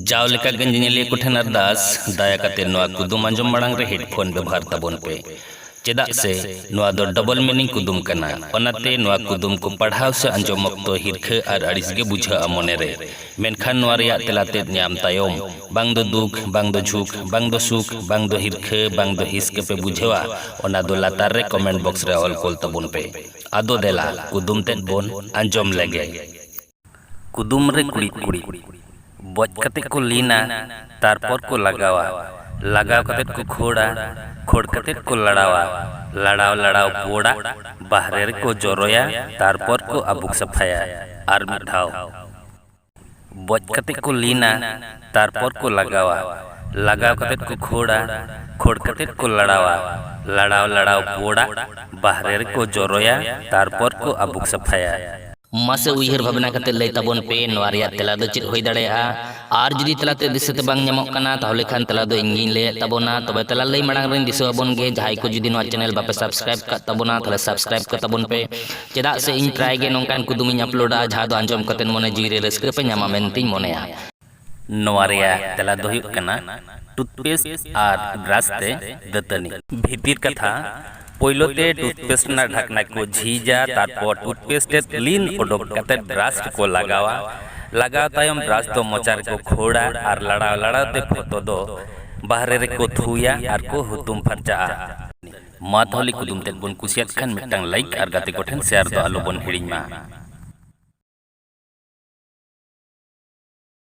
ᱡᱟᱣ ᱞᱮᱠᱟ ᱜᱮ ᱧᱮᱧᱮᱞᱤᱭᱟᱹ ᱠᱚ ᱴᱷᱮᱱ ᱟᱨᱫᱟᱥ, ᱫᱟᱭᱟ ᱠᱟᱛᱮ ᱱᱚᱣᱟ ᱠᱩᱫᱩᱢ ᱟᱸᱡᱚᱢ ᱢᱟᱲᱟᱝ ᱨᱮ ᱦᱮᱰᱯᱷᱳᱱ ᱵᱮᱵᱷᱟᱨ ᱛᱟᱵᱚᱱ ᱯᱮ, ᱪᱮᱫᱟᱜ ᱥᱮ ᱱᱚᱣᱟ ᱫᱚ ᱰᱚᱵᱚᱞ ᱢᱤᱱᱤᱝ ᱠᱩᱫᱩᱢ ᱠᱟᱱᱟ᱾ ᱚᱱᱟᱛᱮ ᱱᱚᱣᱟ ᱠᱩᱫᱩᱢ ᱠᱚ ᱯᱟᱲᱦᱟᱣ ᱥᱮ ᱟᱸᱡᱚᱢ ᱚᱠᱛᱚ ᱦᱤᱨᱠᱷᱟᱹ ᱟᱨ ᱟᱹᱲᱤᱥ ᱜᱮ ᱵᱩᱡᱷᱟᱹᱜᱼᱟ ᱢᱚᱱᱮ ᱨᱮ᱾ ᱢᱮᱱᱠᱷᱟᱱ ᱱᱚᱣᱟ ᱨᱮᱭᱟᱜ ᱛᱮᱞᱟ ᱛᱮᱫ ᱧᱟᱢ ᱛᱟᱭᱚᱢ, ᱵᱟᱝ ᱫᱚ ᱫᱩᱠ, ᱵᱟᱝ ᱫᱚ ᱡᱷᱩᱠ, ᱵᱟᱝ ᱫᱚ ᱥᱩᱠ, ᱵᱟᱝ ᱫᱚ ᱦᱤᱨᱠᱷᱟᱹ, ᱵᱟᱝ ᱫᱚ ᱦᱤᱸᱥ ᱜᱮ ᱯᱮ ᱵᱩᱡᱷᱟᱹᱣᱟ, ᱚᱱᱟ ᱫᱚ ᱞᱟᱛᱟᱨ ᱨᱮ ᱠᱚᱢᱮᱱᱴ ᱵᱚᱠᱥ ᱨᱮ ᱚᱞ ᱠᱳᱞ ᱛᱟᱵᱚᱱ ᱯᱮ᱾ ᱟᱫᱚ ᱫᱮᱞᱟ ᱠᱩᱫᱩᱢ ᱛᱮᱫ ᱵᱚᱱ ᱟᱸᱡᱚᱢ ᱞᱮᱜᱮ᱾ ᱠᱩᱫᱩᱢ ᱨᱮ ᱠᱩᱲᱤᱫ ᱠᱩᱲᱤᱫ᱾ ᱵᱚᱡ ᱠᱟᱛᱮ ᱠᱚ ᱞᱤᱱᱟ ᱛᱟᱨᱯᱚᱨ ᱠᱚ ᱞᱟᱜᱟᱣᱟ᱾ ᱞᱟᱜᱟᱣ ᱠᱟᱛᱮ ᱠᱚ ᱠᱷᱳᱲᱟ᱾ ᱠᱷᱳᱲ ᱠᱟᱛᱮ ᱠᱚ ᱞᱟᱲᱟᱣᱟ᱾ ᱞᱟᱲᱟᱣ ᱞᱟᱲᱟᱣ ᱵᱚᱰᱟᱜ ᱵᱟᱦᱨᱮ ᱨᱮ ᱠᱚ ᱡᱚᱨᱚᱭᱟ ᱛᱟᱨᱯᱚᱨ ᱠᱚ ᱟᱵᱩᱠ ᱥᱟᱯᱷᱟᱭᱟ᱾ ᱟᱨ ᱢᱤᱫ ᱫᱷᱟᱣ᱾ ᱵᱚᱡ ᱠᱟᱛᱮ ᱠᱚ ᱞᱤᱱᱟ ᱛᱟᱨᱯᱚᱨ ᱠᱚ ᱞᱟᱜᱟᱣᱟ᱾ ᱞᱟᱜᱟᱣ ᱠᱟᱛᱮ ᱠᱚ ᱠᱷᱳᱲᱟ᱾ ᱠᱷᱳᱲ ᱠᱟᱛᱮ ᱠᱚ ᱞᱟᱲᱟᱣᱟ᱾ ᱞᱟᱲᱟᱣ ᱞᱟᱲᱟᱣ ᱵᱚᱰᱟᱜ ᱵᱟᱦᱨᱮ ᱨᱮ ᱠᱚ ᱡᱚᱨᱚᱭᱟ ᱛᱟᱨᱯᱚᱨ ᱠᱚ ᱟᱵᱩᱠ ᱥᱟᱯᱷᱟᱭᱟ᱾ ᱢᱟᱥᱮ ᱩᱭᱦᱟᱹᱨ ᱵᱷᱟᱵᱽᱱᱟ ᱠᱟᱛᱮ ᱞᱟᱹᱭ ᱛᱟᱵᱚᱱ ᱯᱮ ᱱᱚᱣᱟ ᱨᱮᱭᱟᱜ ᱛᱮᱞᱟ ᱫᱚ ᱪᱮᱫ ᱦᱩᱭ ᱫᱟᱲᱮᱭᱟᱜᱼᱟ ᱟᱨ ᱡᱩᱫᱤ ᱛᱮᱞᱟᱛᱮ ᱫᱤᱥᱟᱹᱛᱮ ᱵᱟᱝ ᱧᱟᱢᱚᱜ ᱠᱟᱱᱟ ᱛᱟᱦᱚᱞᱮ ᱠᱷᱟᱱ ᱛᱮᱞᱟ ᱫᱚ ᱤᱧᱜᱤᱧ ᱞᱟᱹᱭᱮᱫ ᱛᱟᱵᱚᱱᱟ ᱛᱚᱵᱮ ᱛᱮᱞᱟ ᱞᱟᱹᱭ ᱢᱟᱲᱟᱝ ᱨᱮᱧ ᱫᱤᱥᱟᱹ ᱟᱵᱚᱱ ᱜᱮ ᱡᱟᱦᱟᱸᱭ ᱠᱚ ᱡᱩᱫᱤ ᱱᱚᱣᱟ ᱪᱮᱱᱮᱞ ᱵᱟᱯᱮ ᱥᱟᱵᱥᱠᱨᱟᱭᱤᱵ ᱠᱟᱜ ᱛᱟᱵᱚᱱᱟ ᱛᱟᱦᱚᱞᱮ ᱥᱟᱵᱥᱠᱨᱟᱭᱤᱵ ᱠᱟᱜ ᱛᱟᱵᱚᱱ ᱯᱮ ᱪᱮᱫᱟᱜ ᱥᱮ ᱤᱧ ᱯᱨᱟᱭ ᱜᱮ ᱱᱚᱝᱠᱟᱱ ᱠᱩᱫᱩᱢᱤᱧ ᱟᱯᱞᱳᱰᱟ ᱡᱟᱦᱟᱸ ᱫᱚ ᱟᱸᱡᱚᱢ ᱠᱟᱛᱮ ᱢᱚᱱᱮ ᱡᱤᱣᱤ ᱨᱮ ᱨᱟᱹᱥᱠᱟᱹ ᱯᱮ ᱧᱟᱢᱟ ᱢᱮᱱᱛᱮᱧ ᱢᱚᱱᱮᱭᱟ ᱱᱚᱣᱟ ᱨᱮᱭᱟᱜ ᱛᱮᱞᱟ ᱫᱚ ᱦᱩᱭᱩᱜ ᱠᱟᱱᱟ ᱴᱩᱛᱷᱯᱮᱥᱴ ᱟᱨ ᱵᱨᱟᱥ ᱛᱮ ᱫᱟᱹᱛᱟᱹᱱᱤ᱾ ᱵᱷᱤᱛᱤᱨ ᱠᱟᱛᱷᱟ, ᱯᱳᱭᱞᱳ ᱛᱮ ᱴᱩᱛᱷᱯᱮᱥᱴ ᱨᱮᱱᱟᱜ ᱰᱷᱟᱠᱱᱟ ᱠᱚ ᱡᱷᱤᱡᱟ, ᱛᱟᱨᱯᱚᱨ ᱴᱩᱛᱷᱯᱮᱥᱴ ᱨᱮᱫ ᱞᱤᱱ ᱚᱰᱚᱠ ᱠᱟᱛᱮ ᱵᱨᱟᱥ ᱨᱮᱠᱚ ᱞᱟᱜᱟᱣᱟ᱾ ᱞᱟᱜᱟᱣ ᱛᱟᱭᱚᱢ ᱵᱨᱟᱥ ᱫᱚ ᱢᱚᱪᱟ ᱨᱮᱠᱚ ᱠᱷᱳᱲᱟ ᱟᱨ ᱞᱟᱲᱟᱣ ᱞᱟᱲᱟᱣ ᱛᱮ ᱯᱷᱚᱛᱚ ᱫᱚ ᱵᱟᱦᱨᱮ ᱨᱮᱠᱚ ᱛᱷᱩᱭᱟ ᱟᱨ ᱠᱚ ᱦᱩᱛᱩᱢ ᱯᱷᱟᱨᱪᱟᱜᱼᱟ᱾ ᱢᱟ ᱛᱟᱦᱚᱞᱮ ᱠᱩᱫᱩᱢ ᱛᱮᱫ ᱵᱚᱱ ᱠᱩᱥᱤᱭᱟᱫ ᱠᱷᱟᱱ ᱢᱤᱫᱴᱟᱝ ᱞᱟᱭᱤᱠ ᱟᱨ ᱜᱟᱛᱮ ᱠᱚ ᱴᱷᱮᱱ ᱥᱮᱭᱟᱨ ᱫᱚ ᱟᱞᱚ ᱵᱚᱱ ᱦᱤᱲᱤᱧ ᱢᱟ᱾